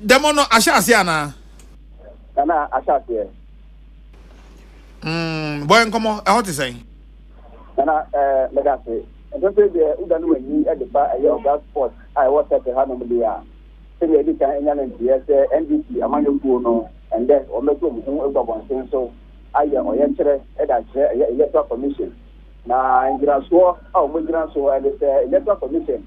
dɛm no ahyɛ aseɛ anaa. nana ahyɛ aseɛ. Mm, bɔyɛ nkɔmɔ ɛhɔ te sɛn. nana ɛɛ mɛda ase mpɛmpɛ deɛ woda no w'ani de ba ɛyɛ ɔga sport a ɛwɔ sɛte ha nom deɛ a sɛdeɛ ɛdi kan ɛnya no nteɛ sɛ ndc amanyɔkuo no ɛndɛ wɔmɛto wɔn ho agu abɔnten so ayɛ ɔyɛkyerɛ ɛde akyerɛ ɛyɛ electoral commission na ngyinasoɔ a wɔn gyina so ɛde sɛ electoral commission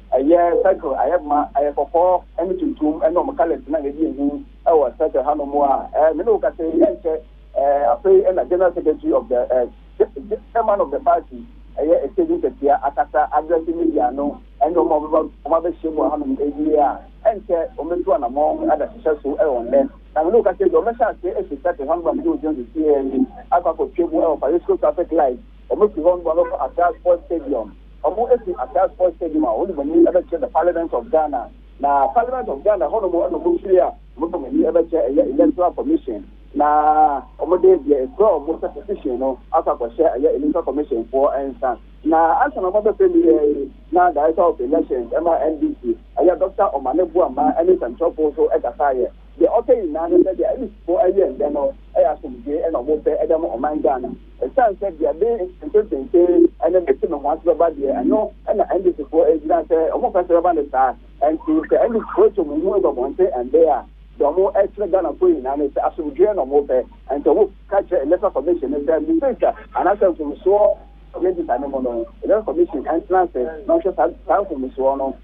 Ɛyɛ circle, ayɛ ma, ɛyɛ kɔkɔɔ ne tuntum ne wɔn colours na ɛdi anim wɔ circle hanom a me ne wo kasa yi ɛnkyɛ afei na General Secretary of the Chairman of the party ɛyɛ Stage Nkatia akasa address media no ɛne wɔn a wɔn abɛhyia mu wɔ hanom ɛwie a ɛnkyɛ wɔn bɛtu anamɔn ada hyehyɛ so wɔ nnɛ na me ne wo kasa yi deɛ wɔn bɛhyɛ ase ɛfiri circle hanom a me ne wo gyina so teɛ yi akɔ akɔtwa mu wɔ Parisco traffic light Wɔn fi hɔ no wɔbɛkɔ Accra Sports Stadium. Wɔn fi Accra Sports Stadium a wɔde wɔn ani bɛkyerɛ the Parliament of Ghana. Na Parliament of Ghana hɔ nom na wɔn firi a wɔde wɔn ani bɛkyerɛ ɛyɛ Electoral Commission. Na wɔde deɛ ekura wɔn sɛ petition no akɔ akɔhyɛ ɛyɛ Electoral Commission foɔ nsa. Na ansa na wɔn abɛfrɛ me yɛ yi na Director of Elections ɛma NDC ɛyɛ Doctor Omane Boamah ɛne nsɛmtwerɛfoɔ nso ɛkasaeɛ. Deɛ ɔka nyinaa ne sɛ deɛ INEC foɔ ɛyɛ nnɛ no ɛyɛ asomdwoeɛ na wɔn pɛ ɛde ama ɔman Ghana. Esiane sɛ deɛ ɛde ntetee ne bɛte ne ho ase bɛba deɛ ɛno na NDCfoɔ ɛgyina sɛ wɔn pɛ sɛ bɛba ne saa nti sɛ NDCfoɔ atwa wɔn ho agu abɔnten ɛnde a deɛ wɔn ɛkyerɛ Ghanafoɔ nyinaa ne sɛ asomdwoeɛ na wɔn pɛ nti wɔn ka kyerɛ Electoral Commission ne sɛ mistake anaasɛ mfomsoɔ register ne mu no Electoral Commission ɛntena ase na wɔhwɛ saa saa mfomsoɔ no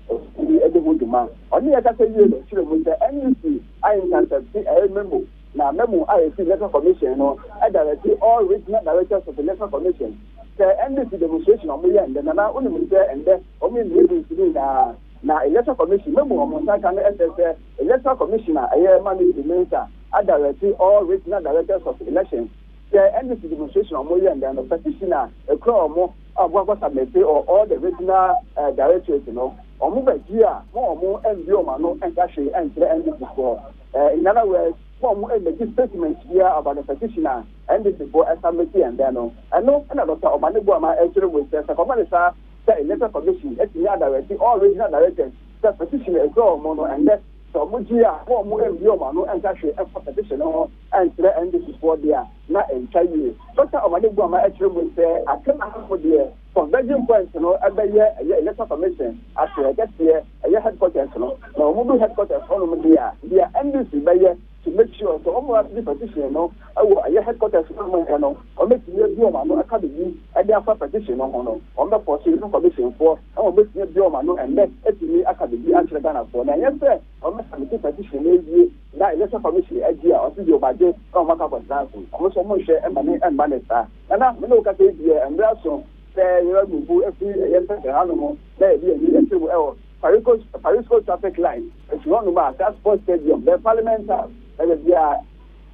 ɛdi ho dwuma ɔne yɛ kasa wie no kyerɛ mu sɛ NDC ayɛ ntantante ɛyɛ memo Na memo a efi Electoral Commission no dirɛte all regional directors of Electoral Commission sɛ ndc demonstration a wɔyɛ ndɛ Nana wonim no sɛ ndɛ wɔyɛ regions no nyinaa na Electoral Commission memo a wɔn nsa aka no sɛ sɛ Electoral Commission a ɛyɛ Managing Mensa adirɛte all regional directors of elections sɛ ndc demonstration a wɔyɛ ndɛ no petition a ɛkura wɔn a wɔn akɔ submite or all the regional directorate no wɔn bɛgye a ma wɔn mbue wɔn ano nka hwee nkyerɛ ndc foɔ. Nyan Aware's wɔn mmɛgye statement biara about the petition a NDC foɔ submit yɛn dɛn no. Ɛno na Doctor Omane Boa ma ɛkyerɛ mu sɛ sɛ kɔma no saa sɛ Electoral Commission atumi a directe all regional directors sɛ petition a ɛkura wɔn no ɛnnɛ sɛ wɔn gye a na wɔn mmue wɔn ano nka hwee mfa petition no ho nkyerɛ NDC foɔ deɛ a na ɛntwa yie. Doctor Omane Boa ma ɛkyerɛ mu sɛ Akan Ahafo deɛ Converging Point no bɛyɛ ɛyɛ Electoral Commission ase ɛkɛseɛ, ɛyɛ headquarters no, na wɔn du headquarters hɔ nom deɛ a, deɛ NDC bɛyɛ to make sure sɛ wɔn a di petition no wɔ ɛyɛ headquarters no a wɔn yɛ no, wɔn bɛtumi abue wɔn ano aka biribi de afa petition no ho no, wɔn bɛ force Election Commission foɔ na wɔn bɛtumi abue wɔn ano ɛnnɛ atumi aka biribi akyerɛ Ghana foɔ, na ɛnyɛ sɛ wɔn bɛ submit petition no awie na Election Commission agye a, wɔn nso deɛ wɔn agye na wɔn akɔ akɔtena ase, wɔn nso wɔn nhwɛ ɛmane ɛmma no saa. Nana, me ne wo kasa yi deɛ mmerɛ aso sɛ yɛba Burubuu afiri ɛyɛ Nsakra ha nom na yɛde yɛn ani akyerɛ mu ɛwɔ Parico Parisco Traffic Light afiri hɔ nom a saa Sports Stadium bɛyɛ Parliament House na baabi a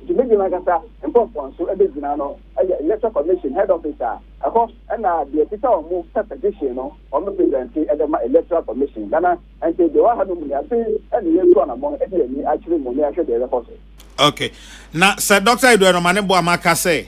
dwumadie no ankasa nkorɔfoɔ nso bɛgyina no yɛ Electoral Commission Head Office a ɛhɔ na deɛ kita wɔn mo pɛ petition no wɔn bɛ present de ma Electoral Commission. Nana, ɛnti deɛ ɛwɔ ha nom ni afei na yɛretu anamɔn de yɛn ani akyerɛ mu na yɛahwɛ deɛ ɛbɛkɔ so. Okay, na sɛ Doctor Edward Ɔmane Boamah ka sɛ.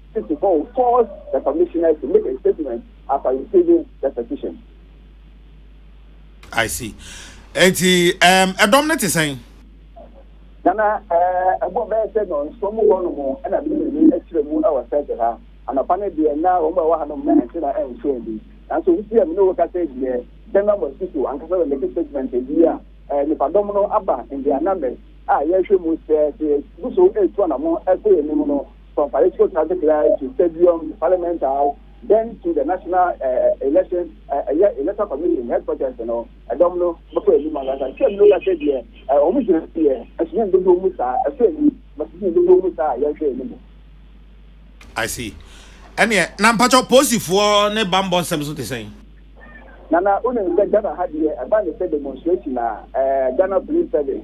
City Hall calls the commissioner to make a statement after receiving the petition. I see. Eti um, ɛdɔm no te sɛn? Nana, eh, ɛbɔ bɛyɛ sɛ nɔnso mu hɔ no mu ɛna bi ne bi akyerɛ mu ɛwɔ sɛte ha. Anɔpa no deɛ na wɔn a ɛwɔ ha no mu na ɛnte na ɛnso bi. Nanso wusi a mene woka sɛ deɛ general mosquito ankasa wɔ make statement bi a eh, nipadɔm no aba in their numbers a yɛhwɛ mu sɛ sɛ guso etu anamo ɛkɔ anim no from political traffic light to stadium to parliament house then to the national uh, election ɛyɛ uh, electoral commission headquarters no ɛdɔm no bɛkɔ anim ankasa sɛ mu ka sɛ deɛ wɔn gyina deɛ ɛso yɛn dodoɔ mu saa ɛso ani bɛso yɛn dodoɔ mu saa yɛhwɛ anim. I see. ɛneɛ na mpakyɛ polisifoɔ ne bambɔ nsɛm so te sɛn nana wonim sɛ ghana ha deɛ ɛba ne sɛ demonstration a ghana police service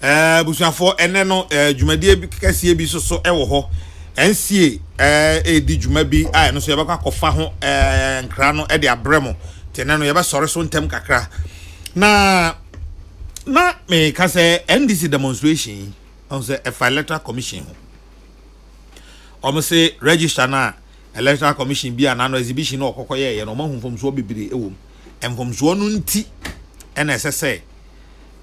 Eh, abusuafoɔ, ɛnɛ no eh, dwumadie bi kɛseɛ bi nso so ɛwɔ hɔ. NCA eh, ɛredi dwuma bi a ɛno nso yɛbɛkɔ akɔfa ho eh, nkra no ɛde abrɛ mo. Nti ɛnɛ no yɛbɛsɔre so ntɛm kakra. Na na meka sɛ NDC demonstration yi, ɔhu sɛ ɛfa electoral commission ho. Wɔn se register no a electoral commission bi a n'ano exhibition no ɔkɔkɔ yɛɛyɛ no wɔn ahu mfomsoɔ bebree ɛwɔ mu. Mfomsoɔ no nti ɛna ɛsɛ sɛ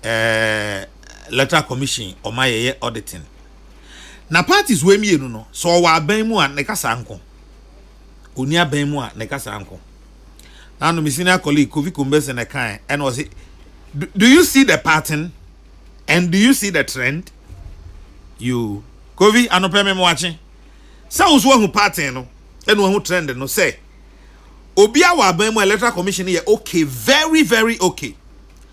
eh, electoral commission ɔma yɛyɛ auditing na parties wei mmienu no sɛ ɔwɔ aban mu a ne kasa nko ɔni aban mu a ne kasa nko na ano me senior colleague Kofi Kombese na ɛkae ɛna ɔse do you see the pattern and do you see the trend you Kofi anopɛ me moakye sɛ wo so wahu pattern no ɛna wahu trend no sɛ obi a wɔ aban mu electoral commission yɛ okay very very okay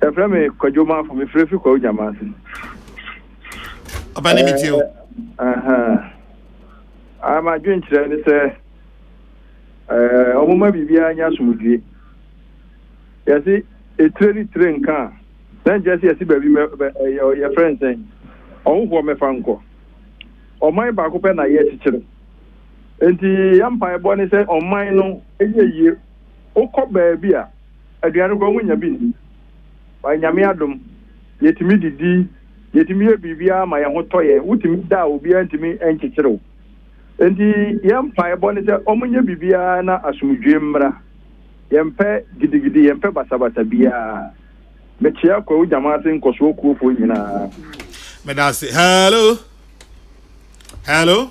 Yɛfrɛ me Kwadwo Manfo, mefrɛ fi Kwawu Gyamanse. Ɔbɛne metie o. Ah, m'adwenkyerɛ ne sɛ ɔmoma biribiara nya asomdwie. Yɛse etire ne tire nka a, na nkyerɛ sɛ yɛse baabi yɛfrɛ nsɛn ɔhohoɔ mɛfa nkɔ. Ɔman baako pɛ na yɛkyekyere. Nti yɛ mpaebɔ ne sɛ ɔman no yɛ yie. Wokɔ baabi a aduan no koraa wonya bi nni. But Nyame adom, yɛtumi didi, yɛtumi yɛ biribiara ma yɛn ho tɔ yɛn. Wotumi da a obiara ntumi nkyekyere wo. Enti yɛn mpaebɔ ne sɛ wɔnyɛ biribiara na asomdwoe mmra. Yɛmpɛ gidigidi, yɛmpɛ basabasa biara. Mekyea Kwawu Gyamase nkɔsoɔ kuofoɔ nyinaa. Meda ase. Hello? Hello?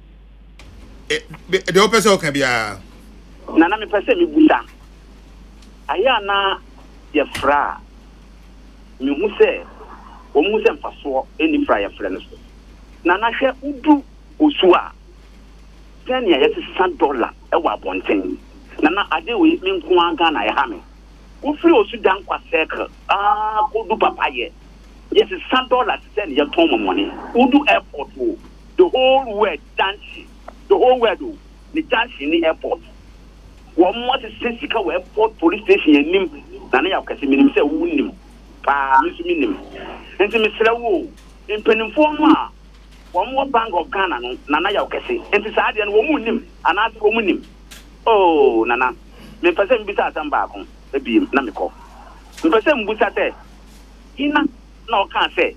deɛ wopɛ sɛ woka biara na na mepɛ sɛ mebusa ayɛ a na yɛfrɛ a mehu sɛ wɔn mu sɛ mfasoɔ ɛni fra yɛfrɛ no so na na hwɛ wodu osu a sɛnea yɛsesa dɔla ɛwɔ abɔnten na na ade wei me nko ara Ghana ɛha me wofiri osu dan kwa circle aa kodu papa yɛ yɛsesa dɔla te sɛ ne yɛtɔn mɔmɔne wodu airport o the whole word junction, the whole word o, ne junction ne airport. Wɔn asese sika wɔ airport police station anim na ne yaw kɛse. Menim sɛ wo nim paa, me nso me nim. Nti mesrɛ wo o, mpanimfoɔ no a wɔn wɔ Bank of Ghana no na na yaw kɛse. Nti saa adeɛ no wɔn nnim anaase wɔn nim? Oh Nana, me mpɛ sɛ mebisa asɛm baako biem na mekɔ. Mpɛ sɛ mbusa sɛ, hena na ɔkaa sɛ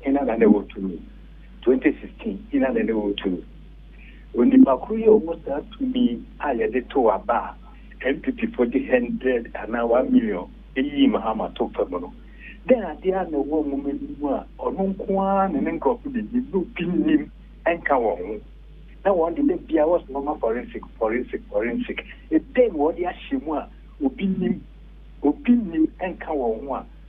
Hena na na ɛwɔ tumi? 2016 Hena na na ɛwɔ tumi? Onipa koro yi a ɔwɔ saa tumi a yɛde tow aba a NPP fo de hundred anaa one million yii Mahama to fam no, dɛn ade ara na ɛwɔ nwoma no mu a ɔno nko ara ne ne nkurɔfo de nim na obi nnim nka wɔn ho? Na wɔn de, da biara wɔse wɔma forensic, forensic, forensic. Dɛn na wɔde ahyɛ mu a obi nnim, obi nnim nka wɔn ho a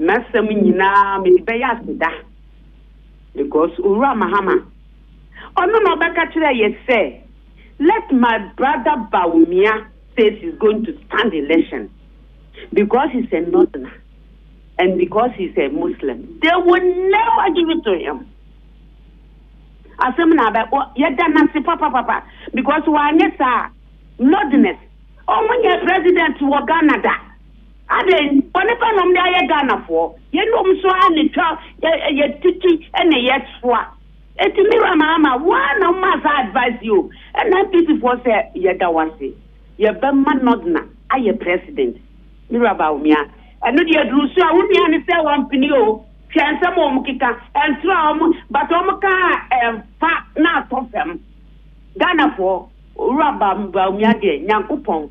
M'asɛm nyinaa mede bɛyɛ aseda because Owura Mahama ɔno na ɔbɛka kyerɛɛ yɛ sɛ let my brother Bawumia says he's going to stand election because he's a northerner and because he's a Muslim they will never give it to him. Asɛm na abɛ yɛda n'ase papapapa because wanyɛ saa northerners ɔmo nyɛ president wɔ Ghana da. Adɛn bɔnepa na wɔde ayɛ Ghanafoɔ? Yeinom nso ara na ɛtwa yɛ yɛ titi ne yɛ soa. Enti Miriam Aama, wo ara na womaa saa advice yi o. Ɛna NPP foɔ sɛ, yɛda wo ase. Yɛbɛma Nordna ayɛ president. Miriam Bawumia, ɛno deɛ ɛduru so a, wo nua no sɛ wampene o, hwɛ nsɛm a wɔkeka, ɛntra a wɔn, but wɔka a ɛmfa na atɔ fam. Ghanafoɔ, Owura Bawumia deɛ, Nyankopɔn.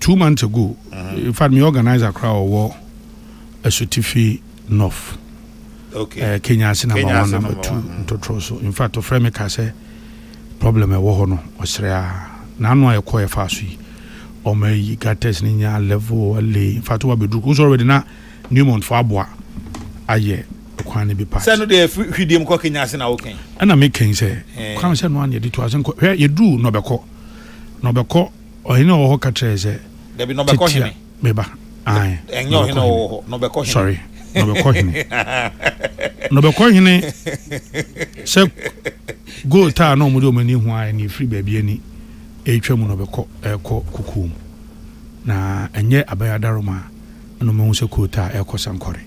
Two months ago, in fact, me organizer koraa ɔwɔ Asutifi North, okay. uh, Kenya ase number Kenya one, number two, ntotoro so. In fact, ɔfrɛ me ka sɛ problem ɛwɔ hɔ no ɔsrɛ a n'ano a ɛkɔ ɛfa so yi ɔmo ayi gates ne nya level ale in fact wabɛduru kosɔrɔ bɛde na Newmont fo aboa ayɛ kwan no bi part sɛ no deɛ hwidie mu kɔ kenya ase na wokɛn ɛna mekɛn sɛ kwan sɛ no aneɛ de to ase nkɔ hwɛ yɛduru na ɔbɛkɔ na ɔbɛkɔ Ɔhene a ɔwɔ hɔ ka kyerɛɛ sɛ. Dabi, na ɔbɛkɔ hene. Titia, me ba. Ae. Ɛnyɛ ɔhene a ɔwɔ hɔ, na ɔbɛkɔ hene. Sorry, na ɔbɛkɔ hene. Na ɔbɛkɔ hene sɛ goat a na wɔde wɔn ani ho ayɛ na ɛfiri baabi ani ɛretwa mu na ɔbɛkɔ ɛrekɔ kokoɔ mu. Na ɛnyɛ abɛn adaroma a na wɔahu sɛ goat a ɛrekɔ sankɔre.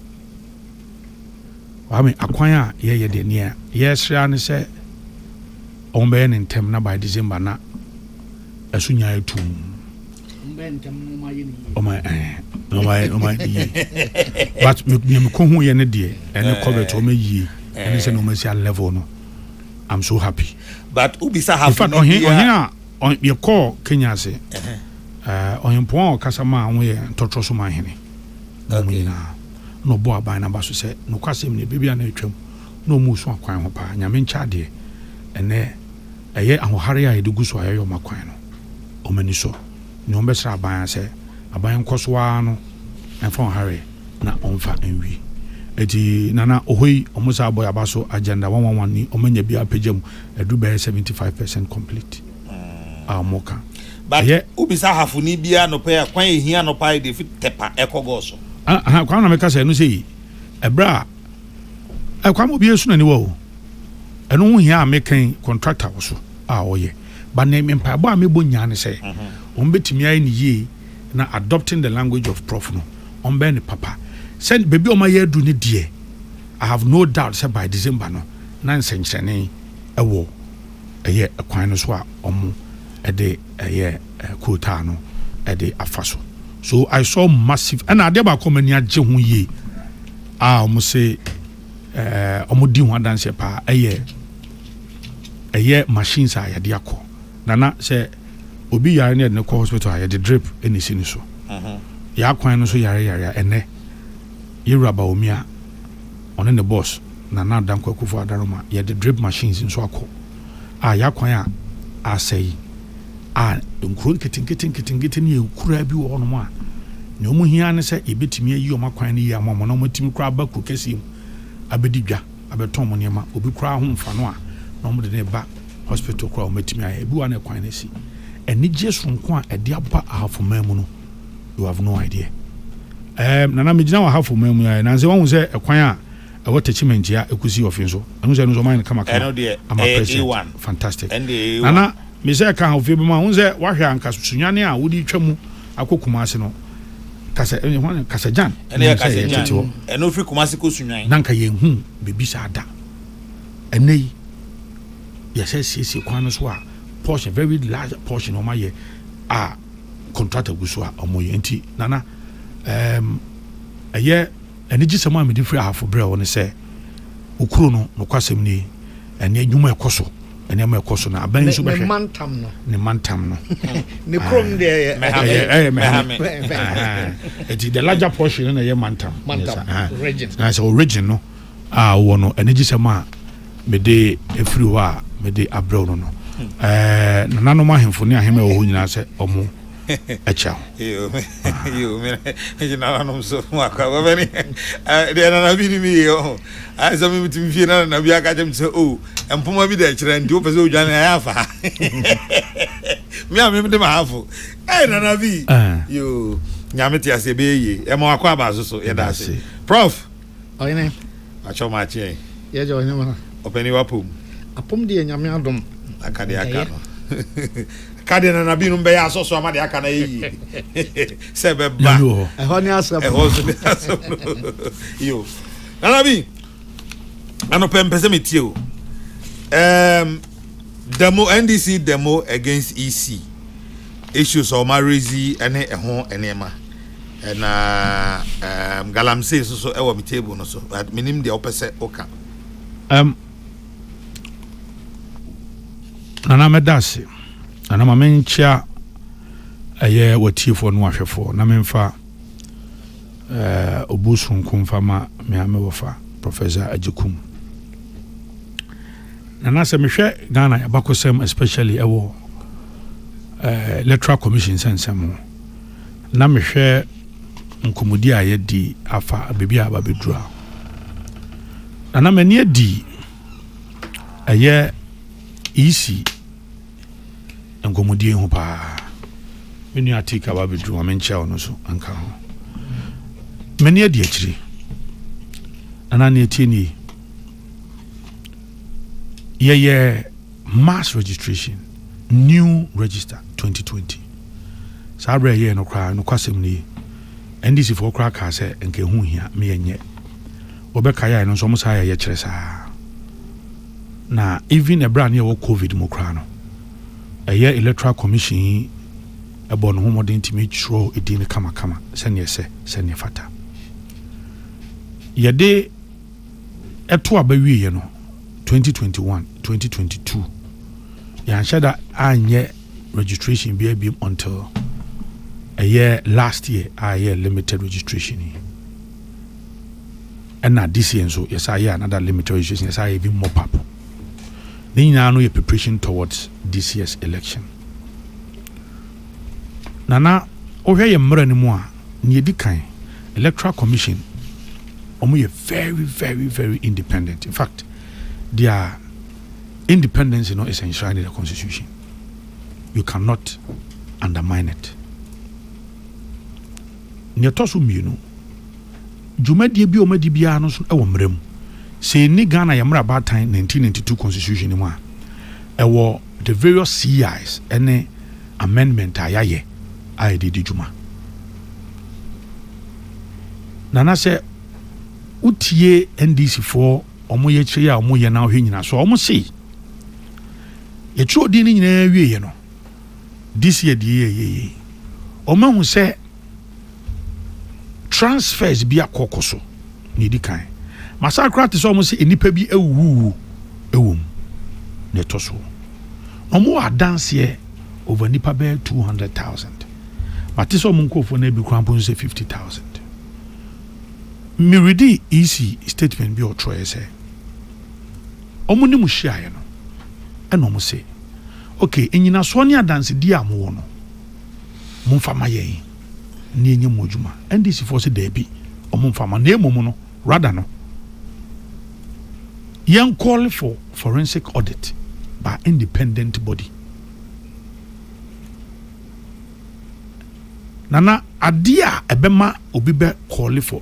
Waame, akwan a yɛyɛ deɛ nea yɛresrɛ ara ne sɛ wɔbɛyɛ no ntɛm na by December na ɛso nya ayɛ tum but nea mekɔ ho yɛ ne deɛ ɛne kɔbɛt ɔma yie ɛne sɛ na ɔma si a level no i'm so happy but wobisa ha in fact ɔhen ɔhen a yɛkɔɔ kenya ase ɔhempɔn a ɔkasa ma a woyɛ ntɔtrɔ so ma hene na ɔmo nyinaa na ɔbɔ aban naba so sɛ nokwasɛm ne baabi a na atwam na ɔmo so akwan ho paa nyame nkyɛ adeɛ ɛnɛ Ɛyɛ ahohare a yɛde gu so a yɛyɛ wɔn akwan no, wɔn ani sɔ. Nea wɔbɛsra aban ara sɛ aban nkɔ so ara no mfa wɔn hare na wɔmfa nwie. Enti Nana Ohoyi, wɔn saa bɔ yɛn aba so agenda one one one ni, wɔanya biara apagya mu aduru bɛyɛ seventy five percent complete a wɔka. But Ɛyɛ. wobisa ahafoni bi anɔpa yi a, kwan a ehia anɔpa ayɛ deɛ fi Tɛpa ɛkɔ Gɔɔ so. Aha, aha, Kwame na meka sɛ ɛno sei, ɛberɛ a, ɛ, Kwame obi asu n'aniwa o. ɛno ho hia a meka yi contractor wɔ so a ɔyɛ but ne mpaebɔ a mebɔ nyinaa ne sɛ wɔn bɛtumi ayɛ ne yie na adopting the language of prof no wɔn bɛyɛ ne papa sɛ baabi a wɔn ayɛ aduru ne deɛ I have no doubt sɛ by December no na nsɛnkyerɛnne ɛwɔ ɛyɛ ɛkwan no so a wɔn ɛde ɛyɛ kootaa no ɛde afa so so I saw massive ɛna adeɛ baako a wɔn ani agye ho yie a wɔn se. wɔn di ho adanseɛ paa ɛyɛ ɛyɛ machines a yɛde akɔ nana sɛ obi yare ne yɛde no kɔ hospital a yɛde drip ɛna esi ne so mhm. yɛ akwan no so yare yare a ɛnɛ yɛwura baomi a ɔne ne boss nana adankɔ akufo adaroma yɛde drip machines nso akɔ a yɛn akwan a asɛe a nkuro nketenkete nketenkete ne akuraa bi wɔ hɔnom a nea wɔn hia ne sɛ yɛbɛtumi ayi wɔn akwan no yie ama wɔn na wɔatumi koraa aba kuro kɛseɛ mu abɛdi dwa abɛtɔn wɔn nneɛma obi koraa ho mfa no a na wɔde ne ba hospital koraa wɔatumi ayɛ ebi wa na kwan no asi anigyeɛ soronko a ɛde aba ahafomaa mu no you have no idea um, nana megyina wɔ ahafomaa mu ayɛ nansɛ wɔhu sɛ ɛkwan a Ɛwɔ Techiman Gyia Ekusi Ɔfi nso. Ɛno nso ɛno nso ɔmo ayɛ no kama kama ama president. Fantastic. Nana me sɛ ka ofie bi ma ho sɛ wahwɛ anka sunwane a wodi twa mu akɔ Kumasi no. Kasa ɛne ho ne kasa gyan. Ɛne yɛ kasa gyan. Ɛno fi Kumasi kɔ sunwane. Nanka yɛn hu bebi saa da. Ɛnɛ yi yɛsɛ siesie kwan no so a portion very large portion ɔmo ayɛ a contractor gu so a ɔmo yɛ nti nana ɛɛm ɛyɛ. Anigyesɛm a mede firi Ahafo brɛɛ wo ne sɛ, Okuro no, nokwasɛm nie, ɛne nnwuma a ɛkɔ so, nneɛma a ɛkɔ so, na abɛn nso bɛhwɛ. Ne mantam no. Ne mantam no. Ne kurom deɛ ɛyɛ. Mɛhame. Ɛyɛ mɛhame. Eti the larger portion no na ɛyɛ mantam. Mantam. Region. Na sɛ o region no a wɔ no, anigyesɛm a mede efiri hɔ a mede abrɛw no no. Hmm. Ɛɛ nananom ahemfo ne ahemma ɛwɔ hɔ nyinaa sɛ ɔmo. akyɛ ho. Yoo me yoo me ɛgye na nanom so mu akɔ bɛbɛ ne deɛ nana bi ni mi yie ɔho ayɛ sɛ mi ti mi fie na nana bi aka kyɛ mi sɛ o oh, mpoma bi da ɛkyerɛ nti o pɛ sɛ o dwane ayɛ afa mi a mi de ma hafo ɛyɛ nana bi yoo nyame te ase ɛbɛyɛ yie ɛma wakɔ aba so so yɛda ase prof. Ɔhene. Akyɛw ma akye yɛn. Yɛ gye ɔhene ma. Ɔpɛni w'apom. Apom deɛ nyame adom. Aka deɛ aka no. Ka deɛ nana binom bɛyɛ asɔ so ama deɛ aka no ayɛ yie. Sɛ bɛba. Ɛhɔ ne asɛm. Ɛhɔ nso ne asɛm no. Yo. Nana bi. Anɔpɛ mpɛ sɛ metie o. Um, demo NDC demo against EC issues ɔma rezi ne ɛho nneɛma. Na ɛɛm galamsey nso so ɛwɔ me table no so but menim deɛ wopɛ sɛ woka. Ɛɛm nana mɛda ase nana ma menkyea ɛyɛ watiefoɔ no ahwɛfoɔ na memfa ɛɛ obu sonko mfa ma me ame wɔfa Professor Agyekum. Nana sɛ mehwɛ Ghana yɛbakɔsɛm especially ɛwɔ ɛɛ electoral commission sɛnsɛm ho. na mehwɛ nkɔmmɔdi a yɛadi afa baabi a aba bɛduru a, na na m'ani adi ɛyɛ isi nkɔmmɔdie ho paa. Me nua Tik aba bɛduru ma menkyɛ ɔno so nka ho. M'ani adi akyiri. Na na ne ɛtie nie. yɛyɛ mass registration new register 2020 saa berɛ yɛyɛ no koraa nokwasɛm no yi ndc foɔ koraa kaa sɛ nka ɛho hia me yɛnyɛ wɔbɛka yɛaɛ no nso ɔmo saa yɛ yɛkyerɛ saa na even ɛberɛ a ne yɛwɔ covid mu koraa no ɛyɛ electoral commission yi ɛbɔ no ho mmɔden tumi twerɛ ɛdin no kamakama sɛneɛ sɛ sɛneɛ fata yɛde Ɛtoo aba wieeɛ no, 2021, 2022, yɛanhyɛ da anyɛ registration bi abiem until ɛyɛ last year a ɛyɛ limited registration yi. Ɛna this year nso yɛsa yɛ another limited registration yɛsa yɛ even mop up. Ne nyinaa no yɛ preparation towards this year's election. Na na wohwɛ yɛn mmara no mu a, nea edi kan, Electoral Commission, wɔyɛ very, very, very independent. In fact, their independence no is enshrined in the constitution. You cannot undermine it. Nea ɛtɔ so mmienu, dwumadie bi a wɔadi biara no so wɔ mmara mu. Sɛ yɛnni Ghana yɛn mmara baatan 1992 constitution no mu a, ɛwɔ the various CIs ne amendment a yɛayɛ a yɛde di dwuma. Nana sɛ wotie NDC foɔ wɔn yɛkyerɛ yi a wɔyɛ na wɔhwɛ nyina so a wɔn se yɛtwerɛ din no nyinaa wieɛ no this year deɛ yɛ yɛ yɛ wɔn ahu sɛ transfers bi akɔkɔ so na edi kan masan koraa te sɛ wɔn sɛ nnipa bi awuwu ɛwɔ mu na ɛtɔ so wɔn wɔ adanseɛ over nipa bɛyɛ two hundred thousand mate sɛ wɔn nkurɔfoɔ no ebi koraa mpo sɛ fifty thousand meredi ec statement bi ɔtwerɛ sɛ. wɔn ne mo hyiaeɛ no, ɛna wɔn se, Ok, nnyinasoɔ ne adansedie a mowɔ no, momfa mma yɛn ne yɛnyɛ mo adwuma. NDC foɔ se daabi, wɔn mfa mma, na mmom no, rather no, yɛn call for forensic audit by independent body. Nana, adeɛ a ɛbɛma obi bɛ call for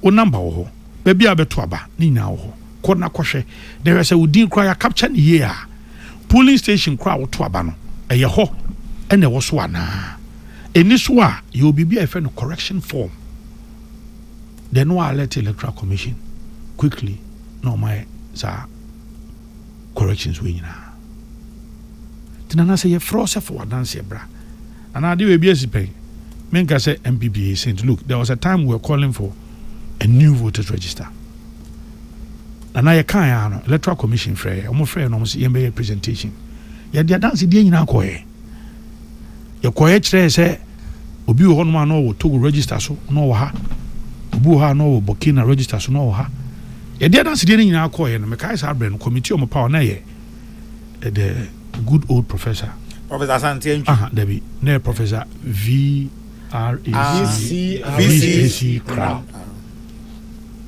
Wo number wɔ hɔ. Baabi a wobɛto aba, ne nyinaa wɔ hɔ. Kɔ na kɔhwɛ, na hwɛ sɛ wo din koraa yɛakapkya no yie a. Polling station koraa a woto aba no, ɛyɛ hɔ na ɛwɔ so anaa. Ɛnni so a, yɛwɔ biribi a yɛfrɛ no correction form. Then no alert Electoral Commission quickly na wɔayɛ saa corrections wei nyinaa. Nti Nana sɛ yɛfrɛ wo sɛ fa w'adanseɛ bra. Anaa ade wei bi asi pɛn. Me nka sɛ NPP yɛ saint look there was a time we were calling for a new voters register na na yɛ kan ya no electoral commission frɛ yɛ wɔn frɛ yɛ na wɔn sɛ yɛn bɛyɛ presentation yɛ de adansi deɛ nyinaa kɔ yɛ yɛ kɔ yɛ kyerɛ sɛ obi wɔ hɔ nom a na ɔwɔ Togo register so na ɔwɔ ha obi wɔ hɔ a na ɔwɔ Burkina register so na ɔwɔ ha yɛ de adansi deɛ nyinaa kɔ yɛ no mekae saa brɛ no committee wɔn pa wɔn na yɛ eh, the good old professor. Professor Asante Antwi. Aha, dabi. Na yɛ Professor V R A C ah, V C A C Crown.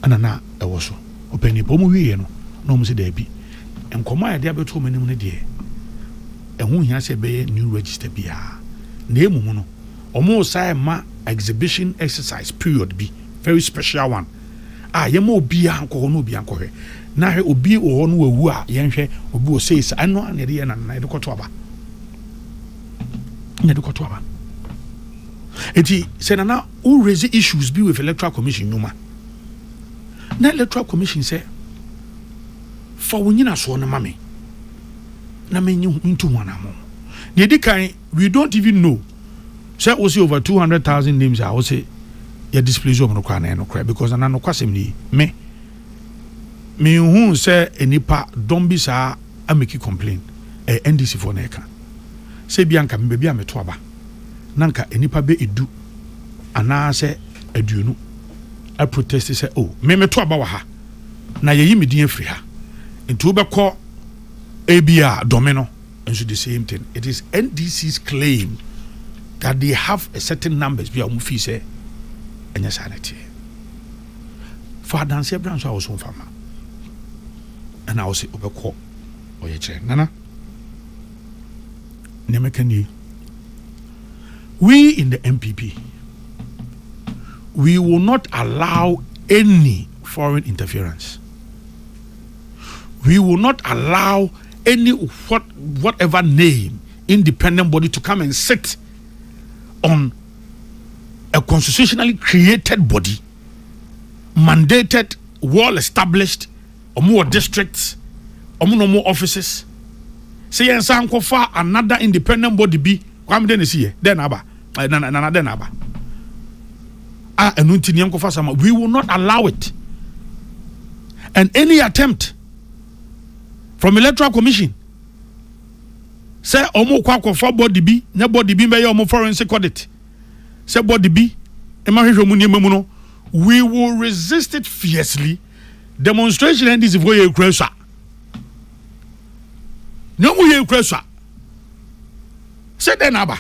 Ana na ɛwɔ so. Ɔpɛ nipa ɔmo wieɛ no na ɔmo sɛ dabi. Nkɔmɔ a yɛde abɛto ɔmo anim no deɛ ɛho hia sɛ ɛbɛyɛ new register biara. Na emu mu no ɔmo san ma exhibition exercise period bi very special one. a yɛma obiara nkɔ hɔ na obiara nkɔhwɛ na hwɛ obi wɔ hɔ no wawu a yɛnhwɛ obi wɔ sei sa ɛno a na yɛde yɛ nana yɛde kɔto aba na yɛde kɔto aba eti sɛ nana wo raise issues bi with electoral commission nnwuma na electoral commission sɛ fa wo nyinasoɔ no ma me na menyi ntu ho anamɔ na ɛdi kan We don't even know sɛ wose over 200,000 names a wose yɛ displace wɔn no koraa na ɛno koraa because na nokwasɛm ni me menhu sɛ nnipa dɔm bi saa ameki complain ɛyɛ NDC foɔ na ɛka sɛ bi anka me baabi a meto aba na nka nnipa bɛ edu anaasɛ aduonu a protest sɛ oh me meto aba wɔ ha na yɛyi me din afiri ha nti wobɛkɔ ebi a dɔme no nso the same thing it is ndc's claim that they have a certain numbers bi a wɔn fi sɛ ɛnyɛ saa na ɛteɛ fa adanseɛ bra nso a wɔso nfa ma ɛna wɔsi ɔbɛkɔ ɔyɛ kyerɛ nana nneɛma ka nie we in the npp we will not allow any foreign interference we will not allow any what whatever name independent body to come and sit on a constitutionally created body mandated well established ɔmo districts ɔmo no ɔmo offices sɛ yɛn nsa nkɔfa another independent body bi kwame dɛ na esi yɛ dɛ na aba eh, na na na dɛ na aba a ɛno nti nea nkɔfa sama we will not allow it and any attempt from electoral commission sɛ wɔn kɔ akɔfa body bi na body bi bɛyɛ wɔn forensic audit sɛ body bi ma hwehwɛ wɔn nneɛma mu no we will resist it fiercely demonstration ndc foɔ yɛ ekura sua nea wɔn yɛ ekura sua sɛ dɛn na aba.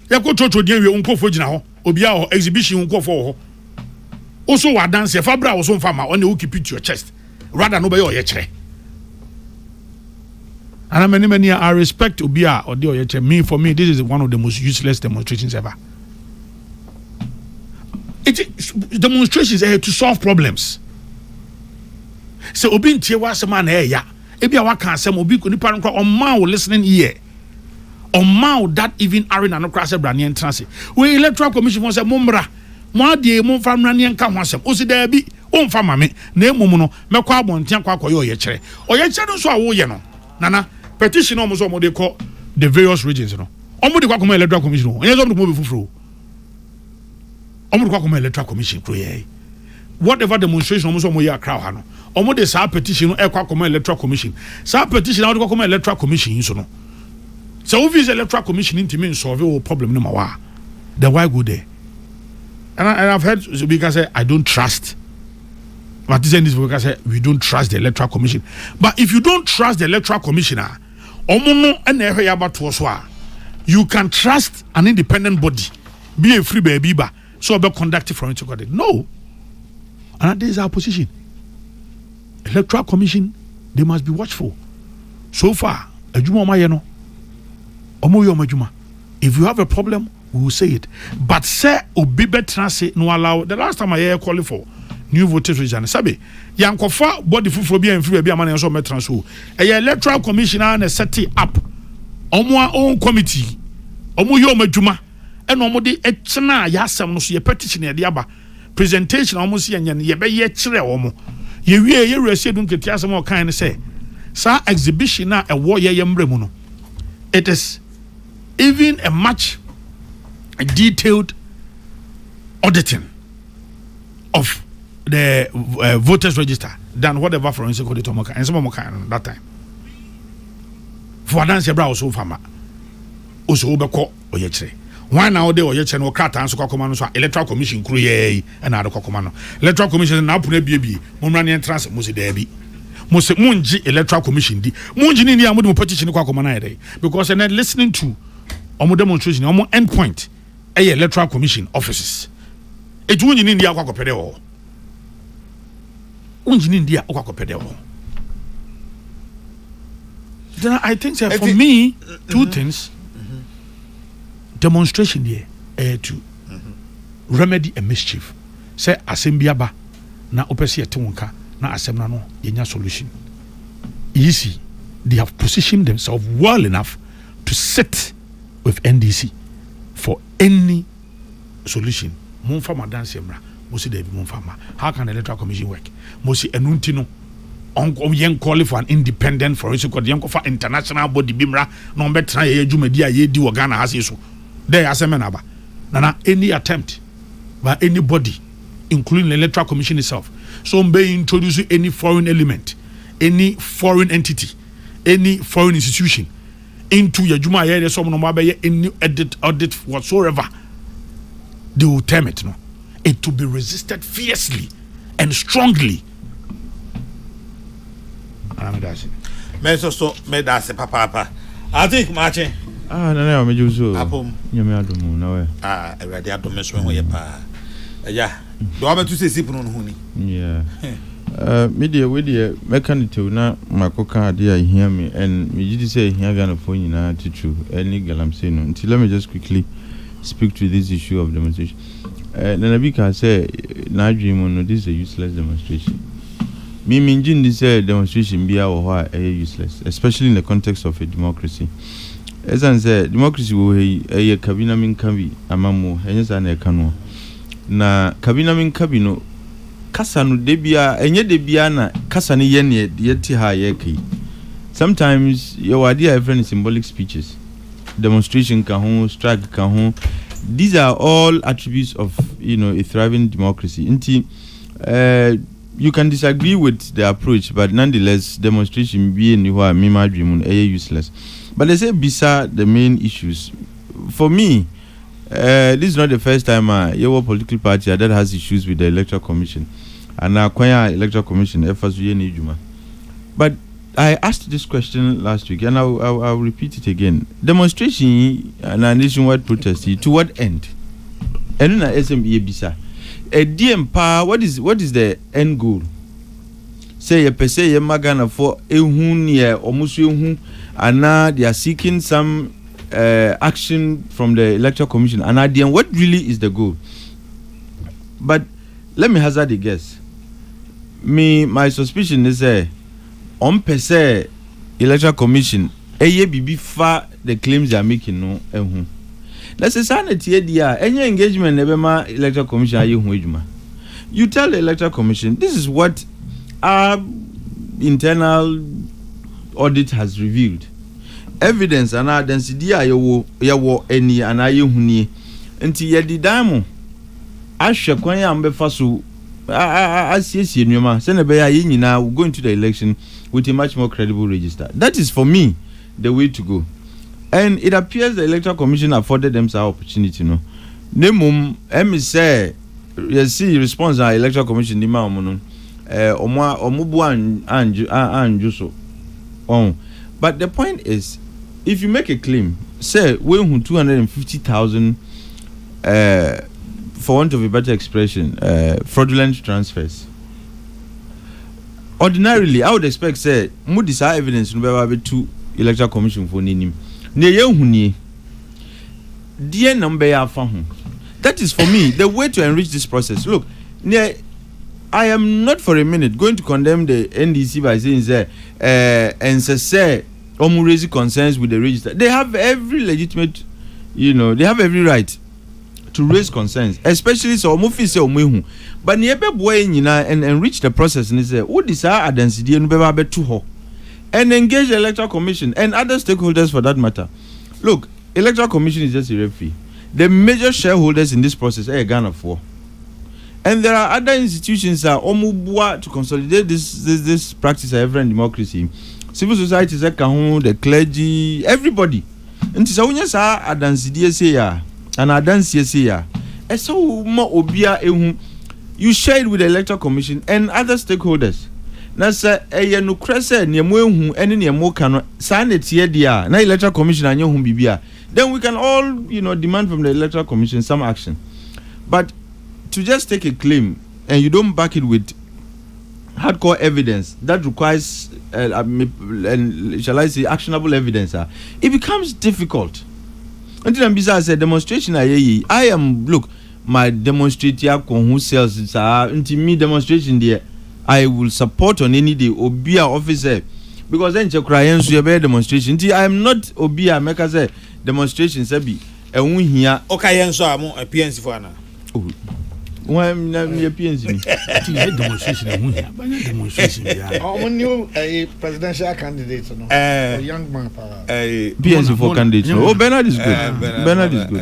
yɛkɔ church deɛ wie wo nkurɔfoɔ gyina hɔ obiara wɔ exhibition wo nkurɔfoɔ wɔ hɔ woso wɔ adanseɛ fa bra wo so mfa ma ɔne wo keep it to your chest rather no bɛyɛ ɔyɛkyerɛ ana mani mani I respect obi a ɔde ɔyɛkyerɛ me for me this is one of the most useless demonstrations ever it is demonstrations eh, to solve problems sɛ obi ntie w'asɛm a na ɛyɛ ya ebi a waka asɛm obi nipa no kora ɔmaa wo listening ear ɔmaa wo dad even are na no koraa sɛ braneɛ ntena ase wei electoral commission fo sɛ mommra mo adeɛ mo mfa mmra neɛ nka ho asɛm osi daabi womfa ma me na mmom no mɛkɔ abɔnten akɔ akɔyɛ ɔyɛkyerɛ ɔyɛkyerɛ no nso a woyɛ no nana petition ɔmo sɛ ɔmo de kɔ the various regions no ɔmo de kɔ akɔma electoral commission ɔnyɛ sɛ ɔmo de kɔma obi foforɔ wɔn de kɔ akɔma electoral commission kuro yɛ yi whatever demonstration wɔn nso wɔn yɛ akra ha no wɔn de saa petition no ɛkɔ akɔma electoral commission saa petition a wɔde kɔ akɔma electoral commission nso no sɛ wofi sɛ electoral commission ntumi nsɔlve wɔ problem no ma wa then why go there and, I, and I've heard so bi ka sɛ I don't trust. But this and this because say we don't trust the electoral commission. But if you don't trust the electoral commissioner, ah, you can trust an independent body. bi a ɛfiri baabi ba sɛ ɔbɛ conduct forensic audit no and that is our position electoral commission they must be watchful so far adwuma ɔmayɛ no ɔmo yɛ ɔmo adwuma if you have a problem we will say it but sɛ obi bɛtena ase no allow the last time I yɛ calling for new voters registration sɛbe yankɔfa body foforɔ bi a mfiri baabi ama na yɛn nso ɔmo bɛtena so ɛyɛ electoral commission a na ɛsɛte up ɔmo a own committee ɔmo yɛ ɔmo adwuma ɛna ɔmo de ɛkyena yɛ asɛm no so yɛ petition yɛde aba presentation a ɔmo si yɛnyɛ no yɛbɛyɛ kyerɛ ɔmo yɛ wie yɛ wura si edu nkete asɛm a ɔkan no sɛ saa exhibition a ɛwɔ yɛyɛ mmerɛ mu no it is even a much detailed auditing of the uh, voters register than whatever forensic audit ɔmo kan ɛnsɛm ɔmo kan no that time for adansi ɛbra ɔso fama. Wose wobɛkɔ ɔyɛkyerɛ. Hwan na ɔde ɔyɛkyerɛ no wɔ krataa nso kɔakɔma no nso a Electoral Commission kuro yi ara yi na ade kɔakɔma no. Electoral Commission se n'apono abiebie, mommra ne yɛntena ase. Mose daabi. Mose mongye Electoral Commission di. Mongye no nni a mode mo petition kɔ akɔma no ayɛ dɛn? Because ɛnɛ listening to wɔn demonstration, wɔn end point. yɛ electoral commission offices eti wonyi ne ndi akɔ akɔpɛ dɛ wɔ hɔ wonyi ne ndi a wokɔ akɔpɛ dɛ wɔ hɔ then i think sɛ for me two mm-hmm. things mm-hmm. demonstration deɛ ɛyɛ eh, to mm-hmm. remedy a mischief sɛ asɛm bi aba na wopɛ sɛ yɛte wo nka na asɛm no ano yɛnya solution easy they have positioned themselves well enough to sit with NDC for any solution momfa mo adanseɛ mmra mo si daabi momfa mma how can the electoral commission work mo si ɛno nti no yɛn call for an independent forensic court yɛn kɔfa international body bi mmra na wɔbɛtena yɛyɛ dwumadi a yɛdi wɔ Ghana ha sei so dɛ yɛ asɛm na aba nana any attempt by anybody including the electoral commission itself so wɔbɛ introduce any foreign element any foreign entity any foreign institution into your juma yeah there's someone about any edit audit whatsoever they will term it no it will be resisted fiercely and strongly mɛsɔ so mɛda ase papaapa ate kumakye ah nana yɛ ɔmɛgye so apom nyame adomu na wɛ ah awurade adome so ho yɛ paa ɛya Deɛ wabɛto sɛ ɛsi pono no ho ni. Me deɛ wei deɛ mɛka no tew na makɔka adeɛ a ɛhia me and megye di sɛ ɛhia Ghanafoɔ nyinaa titiriw ɛne galamsey no nti let me just quickly speak to this issue of demonstration. Uh, Nana bi kaa sɛ n'adwene mu no this is a useless demonstration. Me mengye nni sɛ demonstration biara wɔ hɔ a ɛyɛ useless especially in the context of a democracy. Ɛsiane sɛ democracy wɔ hɔ yi ɛyɛ ka bi na menka bi ama mu ɛnyɛ saa na ɛka noɔ. Na kabi na menka bi no, kasa no da biara, ɛnyɛ da biara na kasa no yɛ neɛ yɛte ha a yɛreka yi. Sometimes yɛwɔ adeɛ a yɛfrɛ no symbolic speeches, demonstration ka ho, strike ka ho. These are all attributes of you know, a thriving democracy. Nti, uh, you can disagree with the approach, but nonetheless, demonstration bi ni hɔ a mema adwene mu no ɛyɛ useless. But they say bisa the main issues. For me, This is not the first time a yɛwɔ political party a that has issues with the electoral commission anaa kwan a electoral commission ɛfa so yɛ n'adwuma but I asked this question last week and I will, I will, I will repeat it again demonstration yi anaa nationwide protest yi to what end ɛno na ɛsɛ yɛbisa ɛdeɛ mpaa what is, what is the end goal sɛ yɛpɛ sɛ yɛma Ghanafoɔ ɛhu neɛ ɔmo so ɛhu anaa they are seeking some eh, action from the electoral commission anaa deɛn what really is the goal but let me hazard a guess me my suspicion ne sɛ wɔn pɛ sɛ electoral commission ɛyɛ biribi fa the claims they are making no ɛho na sɛ saa na tie di a ɛnyɛ engagement na ɛbɛma electoral commission ayɛ ho adwuma you tell the electoral commission this is what our internal audit has revealed. Evidence anaa adansedie a yɛwɔ yɛwɔ nie anaa yɛhu nie. Nti yɛde dan mo ahwɛ kwan a mobɛfa so asiesie nneɛma sɛnea ɛbɛyɛ a yɛn nyinaa we go into the election with a much more credible register. That is for me the way to go. And it appears the Electoral Commission afforded them saa opportunity no. Na mmom ɛme sɛ Yɛsii response a electoral commission de maa wɔn no, eh, wɔn a wɔn bu anju anju so. Wɔn. But the point is, if you make a claim, sɛ wɔahu two hundred and fifty thousand, eh, for want of a better expression, eh, fraudulent transfers. Ordinarily, I would expect sɛ mo de saa evidence no bɛba abɛtu electoral commission for n'anim. Nea yɛahu nie. Deɛn na mobɛyɛ afa ho? That is for me the way to enrich this process. Look, neɛ I am not for a minute going to condemn the NDC by saying sɛ eh, ɛnsɛ sɛ wɔn raise concerns with the register. They have every legitimate, you know, they have every right to raise concerns, especially sɛ wɔn fi sɛ wɔn ehu. But neɛ ɛbɛboa yɛn nyinaa and enrich the process ne sɛ wode saa adansidie no bɛba abɛto hɔ and engage the electoral commission and other stakeholders for that matter. Look, electoral commission is just a referee, the major shareholders in this process ɛyɛ Ghanafoɔ and there are other institutions a wɔboa to consolidate this this this practice a yɛfrɛ no democracy yi, civil societies ɛka ho, the clergy, everybody. Nti sɛ wonya saa adansedie sei a, anaa adanseɛ sei a, ɛsɛ wo ma obiara ɛhu. You share it with the Electoral Commission and other stakeholders. Na sɛ ɛyɛ nokorɛ sɛ neɛ mo ahu ne neɛ mo ka no saa na ɛteɛ deɛ a, na Electoral Commission anyɛ ho biribi a, then we can all you know, demand from the Electoral Commission some action. But to just take a claim and you don't back it with hardcore evidence that requires, uh, uh, shall I say, actionable evidence, uh, it becomes difficult. Until I'm beside, I said, demonstration, I am, look, my demonstrate akɔ ho cells saa nti me demonstration deɛ I will support on any day obi a ɔfi sɛ because ɛnkyɛ koraa yɛn nso yɛbɛyɛ demonstration nti I am not obi a mɛka sɛ demonstration sɛbi ɛho hia. Ɔka yɛn nso a mo PNC fo ana. Oh, wɔn na yɛ PNC ni. Ti yɛ demonstration ɛho hia bɛyɛ demonstration bi a. Ɔmo ni ɛyɛ presidential candidate no. Ɛɛ eh. young man paa. Ɛɛ eh, PNC for candidate no. Oh Bernard is good. Eh, Bernard is good.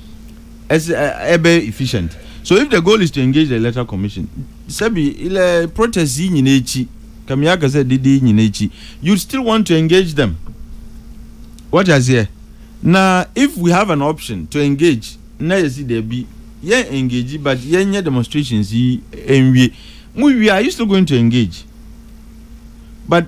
ɛsɛ ɛbɛ efficient so if the goal is to engage the electoral commission sɛbi ilɛ protest yi nyina akyi kàmi aka sɛ dede yi nyina akyi you still want to engage them wɔte aseɛ na if we have an option to engage na yɛsi dɛbi yɛn engage but yɛn nyɛ demonstrations yi nwie mo wie are you still going to engage but.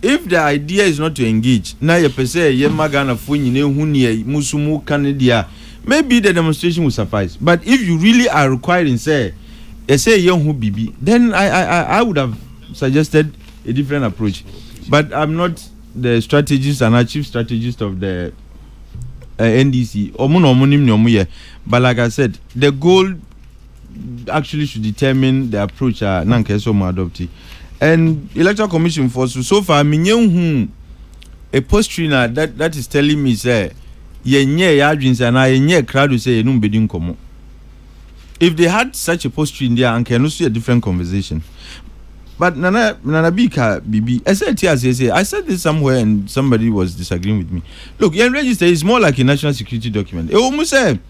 If the idea is not to engage na yɛpɛ sɛ yɛma Ghanafoɔ nyinaa hu neɛ mo nso mo ka no deɛ a, maybe the demonstration will suffice but if you really are requiring sɛ ɛsɛ yɛ ho biribi then I I I I would have suggested a different approach but I'm not the strategist anaa chief strategist of the uh, NDC. Wɔn na wɔn nim nea wɔn yɛ but like I said the goal. actually should determine the approach a na nka ɛsɛ ɔmo adopt and electoral commission for so so far me nye hu a postry na that that is telling me sɛ yɛnyɛ yɛ adwene sɛ anaa yɛnyɛ krado sɛ yɛnum bedi nkɔmɔ if they had such a postry ndi a anka ɛno so yɛ different conversation but nana nana bi ka bibi ɛsɛ ɛti aseɛ sɛ I said this somewhere and somebody was disagreeing with me look yɛn register is more like a national security document ɛwɔ mu sɛ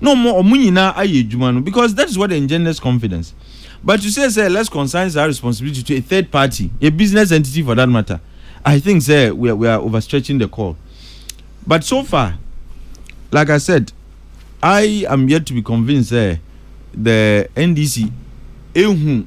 na wɔn wɔn nyinaa ayɛ adwuma no because that is what engenders confidence but to say sɛ let's consign saa responsibility to a third party a business entity for that matter I think sɛ we are, we are overstretching the call but so far like I said I am yet to be convinced sɛ the NDC ehu.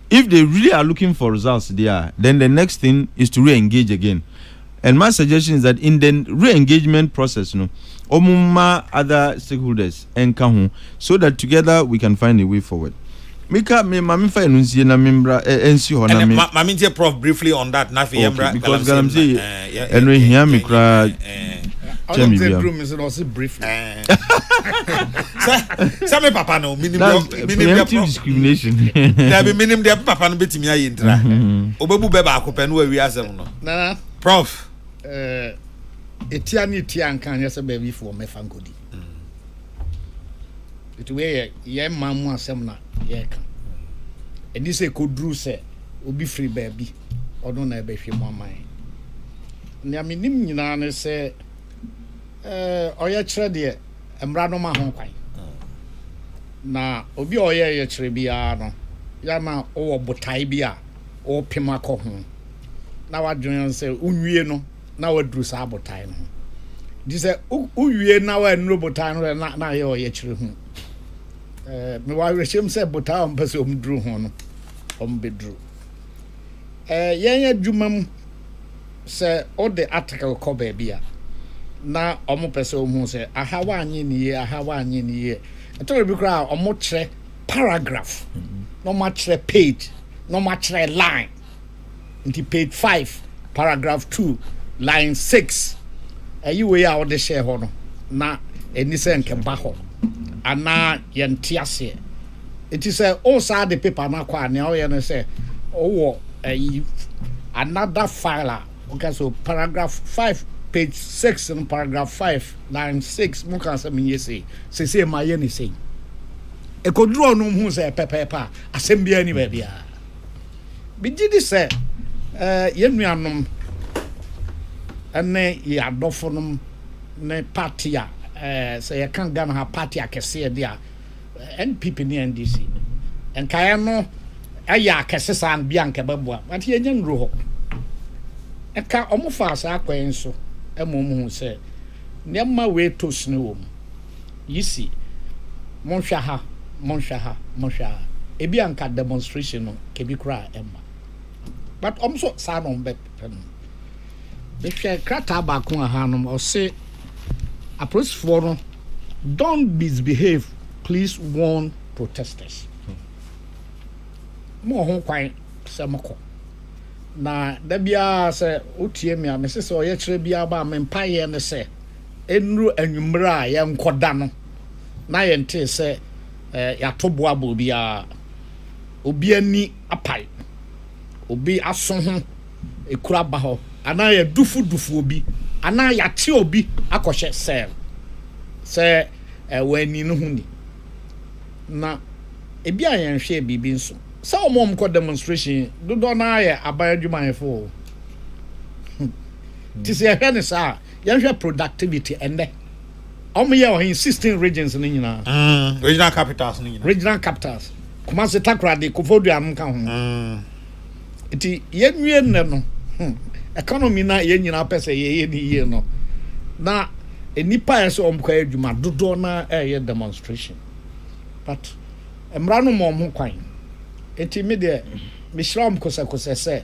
If they really are looking for results deɛ a, then the next thing is to re-engage again. And my suggestion is that in the re-engagement process no, wɔn mma other stakeholders nka ho so that together we can find a way forward. Mika, me ma mefa ɛno nsie na membra ɛ- ɛnsi hɔ na ɛnɛ me... ma ma mentie prof briefly on that na afei Okay, yɛmmra because galamsey galamsey, na, eh, yɛ- ɛno yɛ- ɛhia me yɛ- koraa yɛ- eh, kyɛn Ɔno sɛ biribiara. duru me so na ɔse briefly. eh, sɛ sɛ me papa no menim deɛ discrimination dabi menim deɛ me papa no bɛtumi ayɛ ntira ɔbɛbu bɛ baako pɛ no wawie asɛm no nana prof ɛtia eh, ne ɛtia nka anyɛ sɛ baabifoɔ mɛfa nkɔdi ɛti mm. wei yɛ yɛ ma mu asɛm na yɛka ɛni sɛ ɛkɔduru sɛ obi firi baabi ɔno na ɛbɛhwɛ mu aman nea menim nyinaa ne sɛ Ɔyɛkyerɛ deɛ, mmara no ma ho kwan. Na obi a ɔyɛ ɔyɛkyerɛ biara no, yɛ na wowɔ botae bi a wopem akɔ ho, na wadwene ho sɛ wowie no na waduru saa botae no ho. Nti sɛ wowie na woannuru botae no na na ayɛ ɔyɛkyerɛ hu. Mewɔ awerɛhyɛm sɛ botae a wɔpɛ sɛ wɔduru ho no, wɔbɛduru. Yɛn adwuma mu. Sɛ wode atekew kɔ baabi a na wɔpɛ sɛ wohu sɛ aha woanyɛ no yie, aha woanyɛ no yie. Ɛtɔ bere bi koraa a wɔkyerɛ paragraph, na wɔakyerɛ page, na wɔakyerɛ line. Nti page five, paragraph two, line six, ɛyi wei a wode hyɛɛ hɔ no, na ɛni sɛ nkɛba hɔ anaa yɛnte aseɛ. Enti sɛ woresan de paper no akɔ a, nea woyɛ ne sɛ wowɔ ayi another file a woka sɛ paragraph five page six no paragraph five line six mu ka sɛ menyɛ sei sesei mayɛ ne sei. Ɛkɔduru ɔno hu sɛ pɛpɛɛpɛ a asɛm biara ni baabiara. Megye di sɛ eh, yɛn nuanom ne yɛn adɔfonom ne party a eh, sɛ yɛka Ghana ha party akɛseɛ de a NPP ne NDC nkaeɛ no ɛyɛ akɛse saa no bi anka ɛbɛboa but yɛnyɛ nnuro hɔ ɛka ɔmo faa saa kwan so ɛma ɔmo hu sɛ nneɛma wei to sini wɔ mu yi si monhwɛ ha monhwɛ ha monhwɛ ha ebi anka demonstration no kebi koraa ɛmma but ɔmo so saa na ɔmo bɛ Mehwɛ krataa baako a ha nom ɔse apolisifoɔ no don't misbehave please warn protesters. Mo wɔ ho kwan sɛ mokɔ na da biara sɛ wotie me a mese sɛ ɔyɛ kyerɛ biara ba a me mpaeɛ ne sɛ ɛnuru anwummerɛ a yɛnkɔda no na yɛntee sɛ eh, yɛato boa bɔ obiara obi ani apae obi aso ho ekuro aba hɔ anaa yɛadufudufu obi anaa yɛakye obi akɔhyɛ sɛl sɛ wɔanni no ho ni. Na ebi a yɛnhwɛɛ biribi nso. Sɛ wɔn a wɔkɔ demonstration dodoɔ no ara yɛ aban adwumayɛfo o. Nti sɛ yɛhwɛ no saa a, yɛnhwɛ productivity ɛnnɛ. Ɔmo yɛ ɔhen sixteen regions no nyinaa. Mm, regional capitals no nyinaa. Regional capitals. Kumasi, Takoradi, Kofodua ɔmo ka ho. Mm. Nti yɛn nwie nnɛ no, hmm, economy na yɛn nyinaa pɛ sɛ yɛyɛ ne yie no, na nnipa a ɛsɛ ɔmo kɔ yɛ adwuma dodoɔ na ɛyɛ demonstration. But mmara no ma ɔmo kwan. Nti me deɛ, mehyira ɔmo kosɛkosɛ sɛ,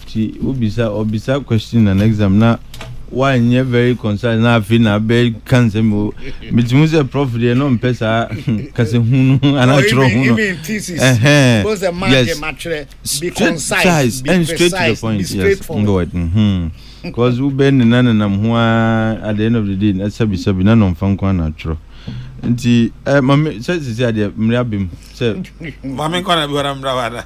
Nti wobisa ɔbisa question and exam na wanyɛ very concise na afei na abɛ ka nsɛm o meti hu sɛ prof deɛ na ɔmpɛ saa kasa hu no anaa twerɛ hu no yes concise and straight to the point yes mbɔwɛ because wobɛ ne na nenam ho a at the end of the day na sabi sabi na nɔmfa nko ana atwerɛ nti eh, mame sɛ sisi adeɛ mmere abem sɛ mame nkɔ na bi hɔ na mmra wada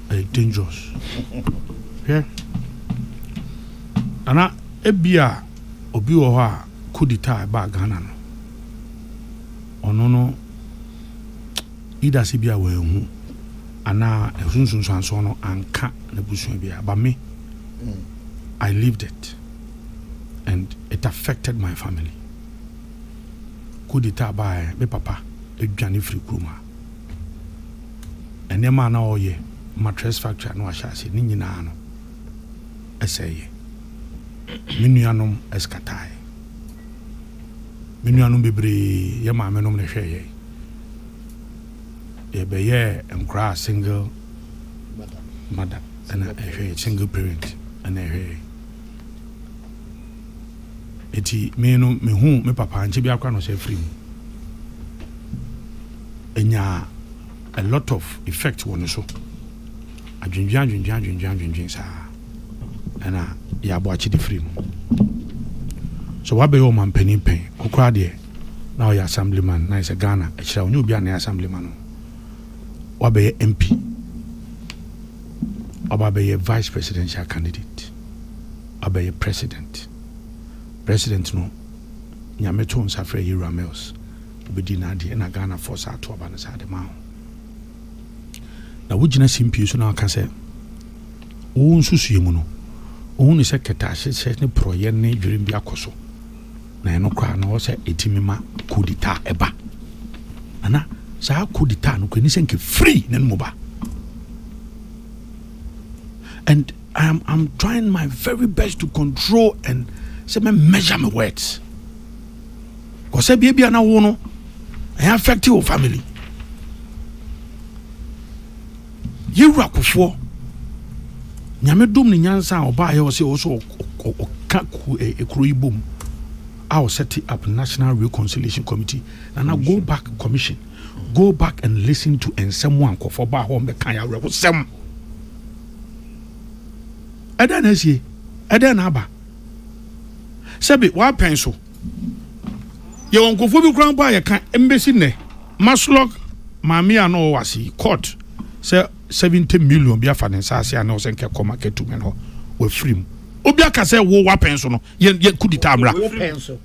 ɛyɛ dangerous hwɛ ana ebia obi wɔ hɔ a kodita a ɛbaa ghana no ɔno no ida sɛ bi a wɔahu anaa ɛsunsunsuansoɔ no anka n'abusua bi a ba me mm. i lived it and it affected my family kodita a baɛ me papa adwane firi kurom a nneɛma a na ɔreyɛ ma Trust Factory a na wahyɛ ase ne nyinaa no sɛeeɛ. Me nuanom skataeɛ. Me nuanom bebree yɛ maamenom na ɛhwɛɛ yɛn. Yɛbɛyɛɛ nkoraa single mother ɛna ɛhwɛɛ single parent ɛna ɛhwɛɛ yɛn. Enti me no mehuu me papa ankyɛ biara koraa na ɔsan firii mu. Ɛnyaa a lot of effect wɔ ne so. Adwendwen adwendwen adwendwen adwendwen saa ɛna yɛ aboakye de firii mu. So wabɛyɛ ɔmampanin pɛn kokoraa deɛ na ɔyɛ assemblyman na ɛsɛ Ghana ɛkyerɛ ɔnyɛ obi a na ɛyɛ assemblyman no wabɛyɛ MP waba bɛyɛ vice presidential candidate. abɛyɛ president. President no Nyame too nsa frɛɛ Yeru Amils, obedii n'adeɛ ɛna Ghana foɔ saa to aba no saa de maa ho. Na wo gyina simpie so na ɔka sɛ wo nsusue mu no ohun sɛ kɛtɛ ahyehyɛ ne porɔyɛ ne dwerem bi akɔ so na ɛno koraa na ɔsɛ etimi ma kodita ɛba ana saa kodita no kɔ ɛni sɛ nke free ne no mu ba and I am am trying my very best to control and sɛ mɛ measure my words kɔsɛ bia bia na wo no ɛyɛ affect wo family yɛwura kofoɔ nyame dom ne nyansa a ɔbaayɛ ɔ sɛ ɔ sɛ ɔka kuro yi bom a ɔsɛte up national reconciliation committee na na go back commission go back and listen to nsɛm a nkɔfoɔ baa hɔ mbɛka yɛ awerɛhosɛm ɛdɛn na asie ɛdɛn na aba sɛbi wapɛn so yɛwɔ nkurɔfoɔ bi koraa mpo a yɛka mbɛsi nnɛ maslok maame a na ɔwɔ ase yi court sɛ 70 million bi afa ne nsaase a na ɔsɛ nkɛ kɔma kɛtumen hɔ wafiri mu obi aka sɛ wo wapɛn so no yɛ kudita mmra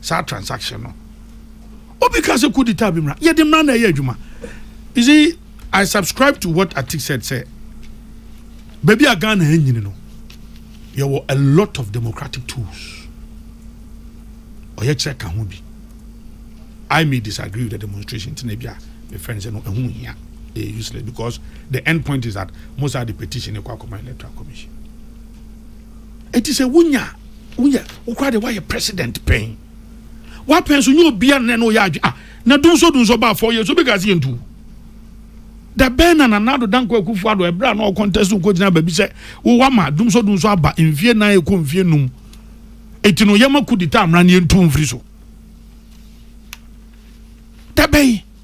saa transaction no obi ka sɛ kudi taa bi mmara yɛde mmara na ɛyɛ adwuma you see i subscribe to what atik said sɛ baabi a ghana anyini no yɛwɔ a lot of democratic tools ɔyɛ kyerɛ ka ho bi i may disagree with the demonstration nti na bi a my friend sɛ no ɛho hia ɛyɛ useless because the end point is that most are the petition ɛkɔ akɔma electoral commission ɛti sɛ wonya woyɛ wo koraa deɛ woayɛ president pɛn woapɛn so nyɛ obia nnɛ na ɔyɛ adwe a na dunso dunso baa fɔ yɛ so bɛka se yɛntu da bɛn na nanado danko akufo ado ɛberɛ a na ɔkɔntɛso nkɔgyina baabi sɛ wowa ma dunso dunso aba mfie nan ɛkɔ mfie num ɛti no yɛma kudita mmara ne yɛntu mfiri so da bɛn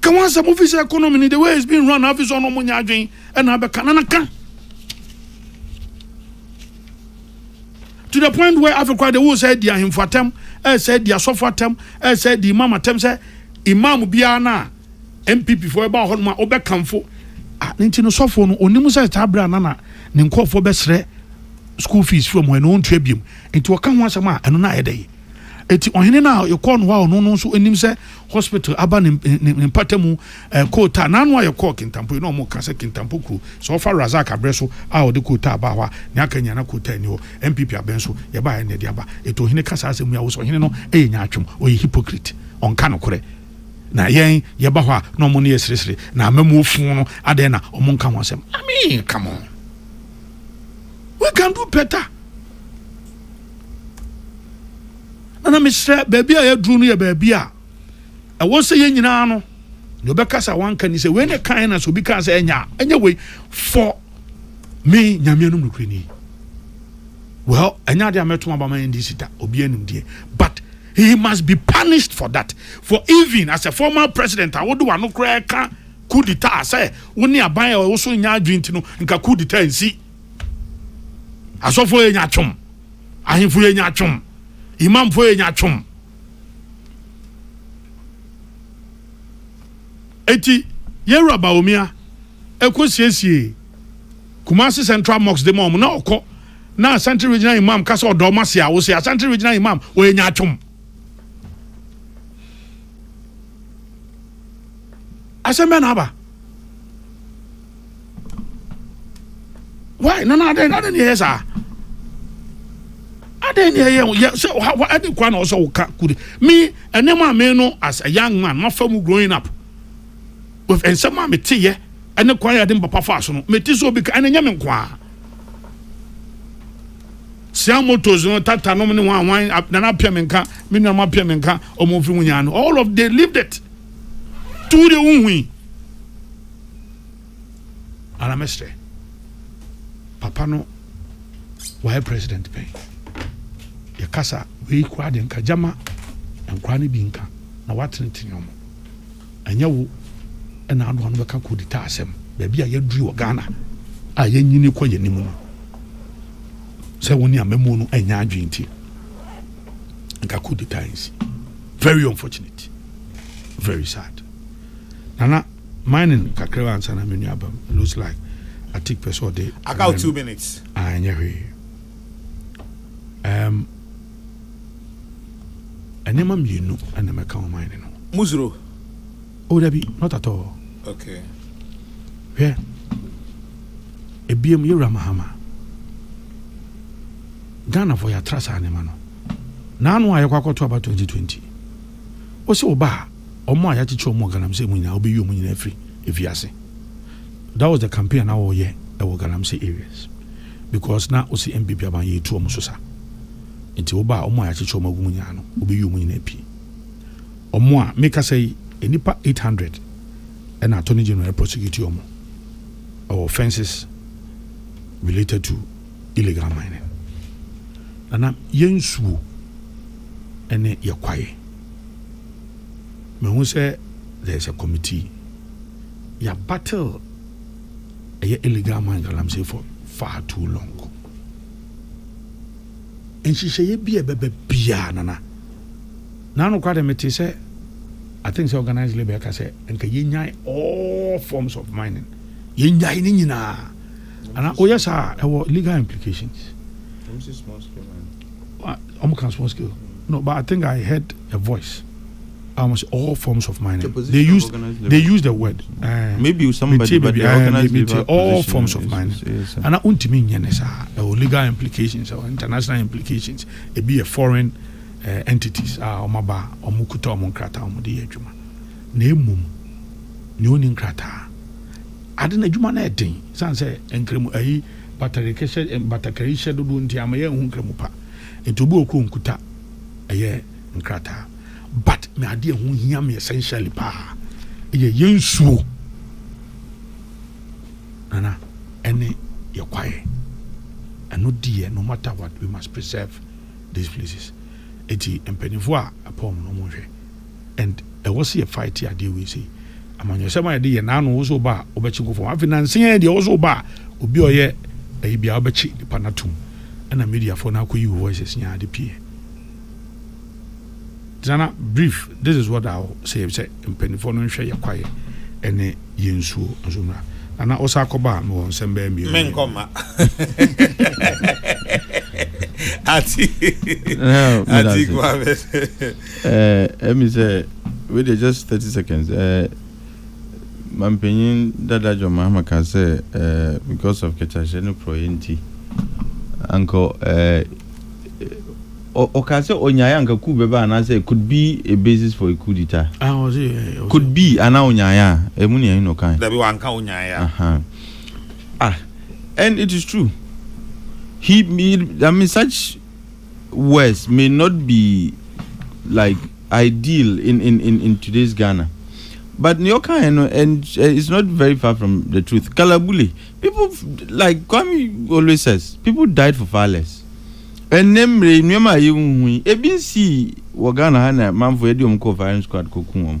Ka ho asɛm ofi sɛ economy ni the way it's being run na afi sɛ ɔno ɔmo nyɛ adwen ɛna abɛka na na ka. To the point where afi kora de wo sɛ di ahemfo atɛm ɛsɛ di asɔfo atɛm ɛsɛ di imam atɛm sɛ imam biara na MPP fo ɛba hɔ nom a wobɛkamfo a ne nti no sɔfo no onim sɛ saa berɛ a na na ne nkurɔfoɔ bɛsrɛ school fees from hɔ ɛna ɔntua biom nti ɔka ho asɛm a ɛno na ayɛ dɛ Eti ɔhene no a yɛkɔɔ no hɔ a ɔno no nso anim sɛ hospital aba ne ne mpata mu eh, koota n'ano a yɛkɔɔ Kintampo yi na wɔn ka sɛ Kintampo kuro sɛ ɔfa Razak abrɛ so a ɔde koota abaa hɔ a ne aka nyina na koota ani hɔ NPP abɛn so yɛbaa yɛ na ɛde aba eti ɔhene ka saa asɛm yi a wosɛ ɔhene no yɛ nyaatwom ɔyɛ hypocrite ɔnka nokorɛ na yɛn yɛba hɔ a na wɔn ne yɛ seresere na amamuo fun no adɛn na wɔn nka ho asɛm I mean come on we can do better. na na mesrɛ baabi a yɛaduru no yɛ baabi a ɛwɔ sɛ yɛn nyinaa no deɛ ɔbɛka sɛ wanka ni sɛ wei ne kan na sɛ obi kaa sɛ ɛnya ɛnyɛ wei fɔ me nyame anom nokorɛ ni well ɛnyɛ adeɛ a mɛtom aba ma ɛndi sita obi anim deɛ but he must be punished for that for even as a former president a wode wano koraa ka coup d'etat sɛ wo ne aban a ɛwɔ so nya adwene nti no nka coup d'etat nsi Asɔfo yɛ nyatwom. Ahemfo yɛ nyatwom. Imamfo yɛ nyatwom. Eti yɛwura Bawumia ɛkɔ siesie Kumasi Central Mosque de ma wɔn na ɔkɔ na Asante Regional Imam kasa ɔdɔ ɔma se a wo se Asante Regional Imam ɔyɛ nyatwom. Asɛm bɛn na aba? why nana adɛn adɛn ne yɛyɛ saa adɛn ne yɛyɛ yɛ sɛ ɔha ɛde kwa na ɔsɛ ɔka kude me ɛnɛ maa me no as a young man mafa mu growing up with nsɛm a meteyɛ ɛne kwan a yɛde mpapa fa so no mete sɛ obi ka ɛne nyɛ me nkoaa sia motos no tata nom ne wɔn awan nana apia me nka me nuanom apia me nka ɔmo mfiri ho nyaa no all of they lived it tu de wohui Ara mɛsrɛ papa no wayɛ president pɛn yɛkasa wei koraa de nka gyama nkora no bi nka na watenetene ɔmo ɛnyɛ wo ɛna anoa no bɛka kodita asɛm baabi a yɛaduru wɔ ghana a yɛnyini kɔ yɛ anim no sɛ wo ne amamuo no ɛnyɛ adwene nti nka kodita nsi very unfortunate very sad nana Mining kakra ansa na menu aba mu. Looks like Atik pɛ sɛ ɔde. Aka wo two minutes. Ah, ɛnyɛ hwee. Um, nneɛma mmienu na mɛka wɔ mining no. Muzuro. Oh, dabi, not at all. Okay. Hwɛ, ebiem yɛwura Mahama. Ghanafoɔ yɛatra saa nneɛma no. Naano a yɛkɔ akɔto aba 2020. Ose ɔba a, wɔn a yɛakyekye wɔn wɔ Galamsey mu nyinaa, wobeyi wɔn nyinaa afiri afiase. That was the campaign a na wɔyɛ wɔ Galamsey areas because na ose NPP aban yɛ etu wɔn so sa. Nti ɔba a, wɔn a yɛakyekye wɔn agu mu nyinaa no, wobeyi wɔn nyinaa pie. Wɔn a mekasa yi, nnipa 800 ɛna Attorney General prosecute wɔn wɔ offences related to illegal mining. Na na yɛ nsuo ne yɛ kwaeɛ. Mehu sɛ there is a committee. Yɛ battle ɛyɛ illegal mine galamsey for far too long. Nhyehyɛeɛ bi a ɛbɛba biara nana. Na anokora deɛ mete sɛ I think sɛ organized labor ɛka sɛ nka yɛnyae all forms of mining. Yɛnyae ne nyinaa. ana woyɛ saa a ɛwɔ legal implications ɔmo ka small scale no but i think i heard a voice almost all forms of mining the they use they use the word uh, maybe somebody but they eh, organize maybe the all forms of mining yes, and i want to mean yes or legal implications or international implications it be a foreign uh, entities ah uh, omaba omukuta omunkrata omudi ejuma Na mmom nea onni nkrataa ade no adwuma no yɛ den esiane sɛ nkramu ayi batakarihyɛ batakarihyɛ dodoɔ nti ama yɛnhu nkramu pa. Nti obi wɔ koro nkuta ɛyɛ nkrataa but me adeɛ ɛho hia me essentially paa ɛyɛ yɛ nsuo nana ɛne yɛ kwaeɛ ɛno deɛ no matter what we must preserve these places. Eti mpanyinfoɔ a ɛpɔn no na wɔn hwɛ. and ɛwɔ sɛ yɛ fight adeɛ wei sei amanyɔsɛm a yɛde yɛ naano wo so ba a wobɛkye nkɔfɔ afei nansen yɛ deɛ wo so ba a obi a ɔyɛ ɛyi bia wobɛkye nipa no atom ɛna mediafoɔ no akɔyi wo voices nyinaa ade pie gyana brief this is what I say sɛ mpanimfoɔ no nhwɛ yɛ kwaeɛ ɛne yɛ nsuo nso mmra nana ɔsa akɔba a mewɔ nsɛm bɛɛ mmienu menkɔma ati ati kwa Eh ɛmi sɛ wei deɛ just thirty seconds eh mampanyin dada John Mahama ka sɛ eh because of kɛkyɛhyɛ ne porɔeɛ nti anka eh ɔka sɛ ɔnyaeɛ anka coup bɛba anaasɛ could be a basis for a coup d'etat ah ɔse eh, eh, eh could be anaa ɔnyaeɛ a ɛmu ne ɛhe na ɔkae dabi wanka ɔnyaeɛ a aha ah and it is true he, he I mean such worse may not be like ideal in in in, in today's Ghana. But New York and uh, it's not very far from the truth. Kalabule, people like Kwame always says, people died for far less. ɛnɛ mmerɛ nneɛma a yɛhu yi ebi nsii wɔ ghana ha na manfo yɛde wɔn kɔɔ firing squad kɔku wɔn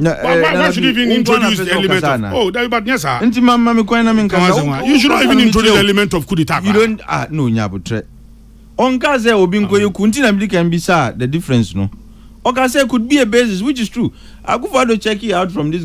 Na eh, Why, why, why should you even introduce the element of? Oh, that, but yes, sir. Nti ma ma mi kwan na mi nkasa. You should not even introduce the element of coup d'état. You don't ah no nyabotrɛ. Ɔnka sɛ obi nkɔ yɛ ku nti na mi di kan bi sa the difference no. Ɔka sɛ could be a basis which is true. Akufo-Addo check it out from this.